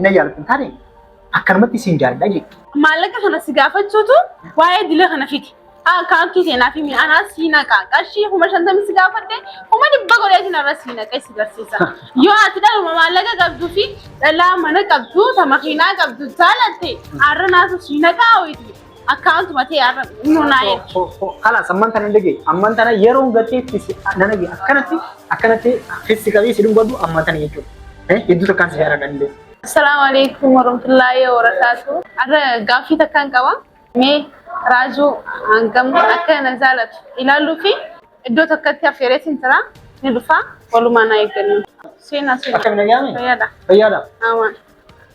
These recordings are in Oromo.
na jaalatu hin taane akkanumatti siin jaalladha jechuudha. Maallaqa kana si gaafachuutu waa'ee dila kana fidi. Akkaawuntii seenaa fi mi'aanaa si naqa. Qarshii kuma shantamii si gaafadhe kuma dhibba godheetiin irra si naqee si barsiisa. Yoo ati dhaluma maallaqa qabduu fi dhalaa mana qabdu ta makiinaa qabdu jaalatte har'a naasu si naqaa ho'itu. Account matee arra nu naa ergi. Kalaas amman tana dhage amman tana yeroon gateetti si nan dhage akkanatti akkanatti fissi qabee si dubbadhu amman tana jechuudha. Eh hedduu takkaan si yaadadha illee. Assalaamu alaikum warahmatullaahi wabarakaatu. Arra gaaffii takkaan qaba. Mee raajuu hangam akka na jaalatu ilaaluu fi iddoo tokkotti affeereetiin jira ni dhufa walumaa na eeggannu. Seenaa seenaa. Akkam nagaame? Fayyaadha. Fayyaadha. Amaan.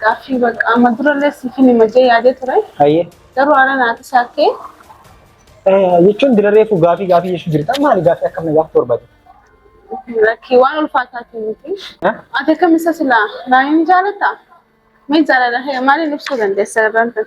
Gaaffii bakka amma durallee siifin hima jee yaadee ture. Hayyee. Garuu haala naati shaakkee. Jechuun dura reefu gaafii gaafii jechuu jirta maali gaafii akkam na gaafatu barbaade. Rakkii waan ulfaataati miti. Ati akkam isa silaa naayin jaalata? Mee jaalala hee maaliin ibsuu dandeessa irraan tan?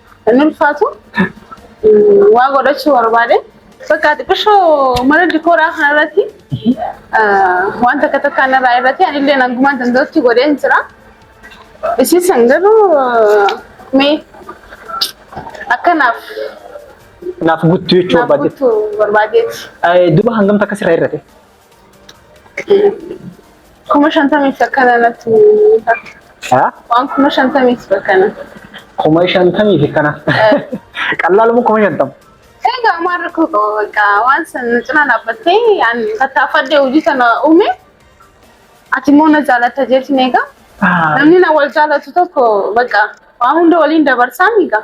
Inni ulfaatu waa godhachuu barbaade. Bakka xiqqishoo mana dikooraa kanarratti waan takka takka narraa irratti anillee hangumaan danda'utti godheen jira. Isii san garuu mee akkanaaf Naaf guttu jechuu naaf barbaadde. guutuu barbaadeeti. Duba hangam takka sirraa irrate? Kuma shantamiif akkana natti mul'ata. Haa? Waan kuma shantamiif akkana. Kuma shantamii fi kana. Qallaaluma kuma shantama. Egaa maal rakkoo qaba bakka waan san na cinaa dhaabbattee an tattaafadhee hojii sana uume ati immoo na jaalatta jeetiin egaa namni na wal jaalatu tokko bakka waan hunda waliin dabarsaan egaa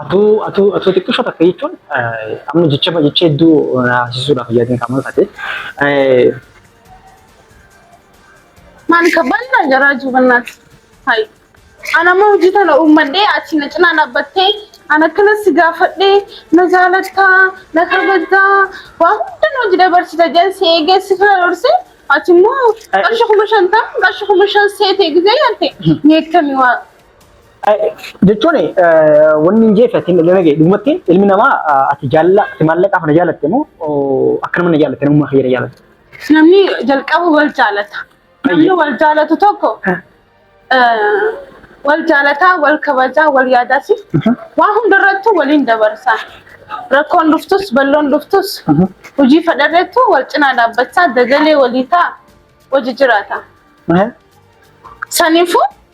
Atuu atuu atuu xiqqisho takka jechuun amma jecha jecha hedduu haasisuudhaaf yaadin kan mul'ate. Maal kabbaan naa jaraa jubannaat. Hayi. Ana amma hojii tana uummadhee ati na cinaa dhaabbattee ana akkana si gaafadhee na jaalattaa na kabajtaa waa hunda na hojii dabarsita jedhan si eegee si fira dhorse ati immoo qarshii kuma shantam qarshii kuma shan seetee gizee yaalte ni eegtami waa jechuun wanni hin jeefe ati illee nagee dhugumatti ilmi namaa ati jaalala ati maallaqaaf na jaalatte moo akka nama na jaalatte namummaa kiyya na jaalatte. Namni jalqaba wal jaalata. Namni wal jaalatu tokko eh, wal jaalataa, wal kabajaa, wal yaadaasi. Waan hundarrattuu waliin dabarsaa. Rakkoon dhuftus, balloon dhuftus, hojii fedharreettu wal cinaa dhaabbachaa dagalee walii ta'a, hojii jiraata. Saniifuu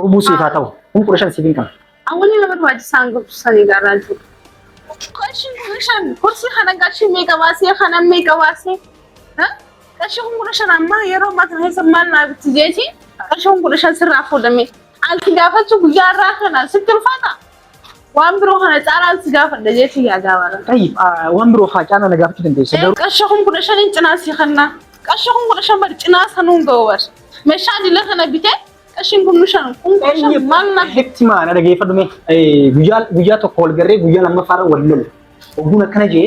Hubuu siif haa ta'u. Kun kudha shan siif hin qabu. Awwalii nama barbaachisaan gorsisanii gaarraaltu. Qarshii kudha shan gorsii kana qarshii meeqa baasee kana meeqa baasee qarshii kun kudha shan ammaa yeroo ammaa kana keessa maal naa bitti jeeti qarshii kun kudha shan sirraa fuudhame alti gaafachuu guyyaa irraa kana sitti ulfaata Waan biroo kana caalaan si gaafadha jeetii yaadaa bara. Tayyib waan biroo faa caalaa na gaafachuu dandeessa garuu. Qarshii kun kudha shaniin cinaa si kennaa. Qarshii kun kudha shan bari cinaa sanuun ga'u bari. Meeshaa dila kana bitee qarshiin kun nu shan kun kudha shan maal na. Hetti maana dhageeffadhu mee guyyaa guyyaa tokko wal garree guyyaa lammaffaa irra wal lola. Ogguun akkana jee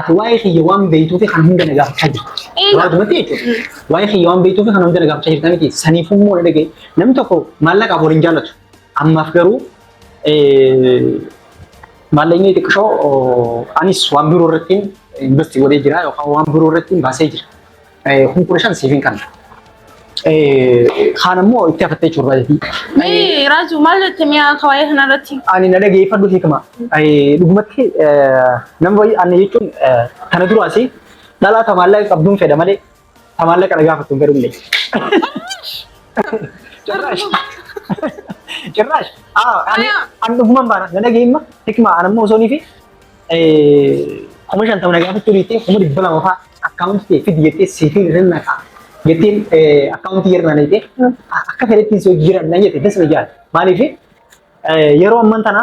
ati waa'ee kiyya waan beektuufi kan hunda na gaafachaa jirtu. Eegaa. Gabaabumatti jechuudha. Waa'ee kiyya waan beektuufi kan hunda na gaafachaa jirta miti. Saniifuu immoo na dhagaye. Namni tokko maallaqaaf wal hin jaallatu. Ammaaf garuu maallaqni xiqqishoo anis waan biroo irratti investi godhee jira yookaan waan biroo irratti baasee jira. Kun kudha shan siifin kanna. Kaan ammoo itti hafattee jiru baay'ee. Mee Raaju maal jette mi'a akka waa'ee kanarratti? Ani na dhageeffadhu hiikama. Dhugumatti nama baay'ee ani jechuun kana duraas dhalaa tamaallaqa qabduun fedha malee ta maallaqa na gaafattu garullee. Cirraash. Cirraash. An dhuguman baana na dhageemma hikma an ammoo osoo nifi kuma shantama na gaafachuu dhiittee kuma dhibba lama fa'aa akkaawuntii ta'e fidi jettee siifii irra naqaa. Jettiin akkaawuntii irra naqee akka fedhettiin soo jiran na jette dasa na jaal. Maaliif yeroo amman tana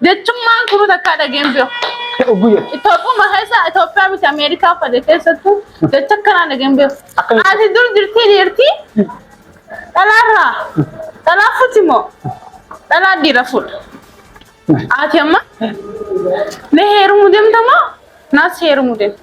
Jechummaan kunu takkaa dhageen beeku. Oguyya. Itoophiyaa keessa Itoophiyaa miti Ameerikaa fade keessattuu jecha akkanaa dhageen beeku. Akkamitti? Ati dur jirtii dhiirtii dhalaarraa dhalaa fuuti moo dhalaa dhiira fuudha. Ati amma na heerumuu deemta moo naas heerumuu deemta.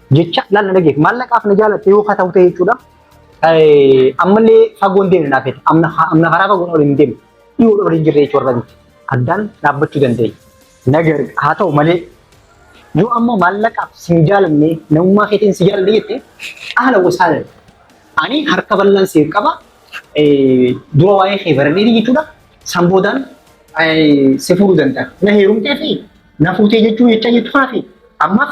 jecha laal na dhageef maallaqaaf na jaalatte yoo ka ta'u ta'e jechuudha. Ammallee fagoon deemne naaf jedhe amna karaa fagoon ol hin deemne dhiyoo ol hin jirre jechuudha miti addaan dhaabbachuu dandeenya. Nagar haa ta'u malee yoo ammoo maallaqaaf sin jaalanne namummaa keetiin si jaalanne jette haala gosaadha. Ani harka bal'aan siif qaba dura waa'ee kee baradheeti jechuudha san boodaan si fuudhuu danda'a. Na heerumtee fi na fuutee jechuu jecha jechuu kanaafi ammaaf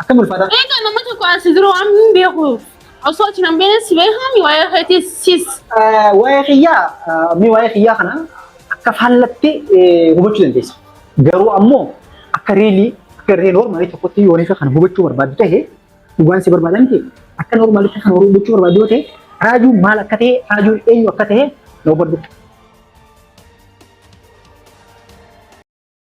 Akkam ulfaataa? Eegaa nama tokko asi jiru waan hin beeku. Osoo achi nan beekne si beekami waa'ee keetii sis. Eh, Waa'ee kiyyaa, eh, mee waa'ee kiyyaa kana akka faallatti eh, hubachuu dandeessa. Garuu ammoo akka reelii, akka ree noormaalii tokkotti yoo waliin kana hubachuu barbaaddu ta'e, dhugaan si barbaadan ta'e, akka noormaalitti kana hubachuu barbaaddu yoo ta'e, raajuun maal akka ta'e, raajuun eenyu akka ta'e na hubadhu.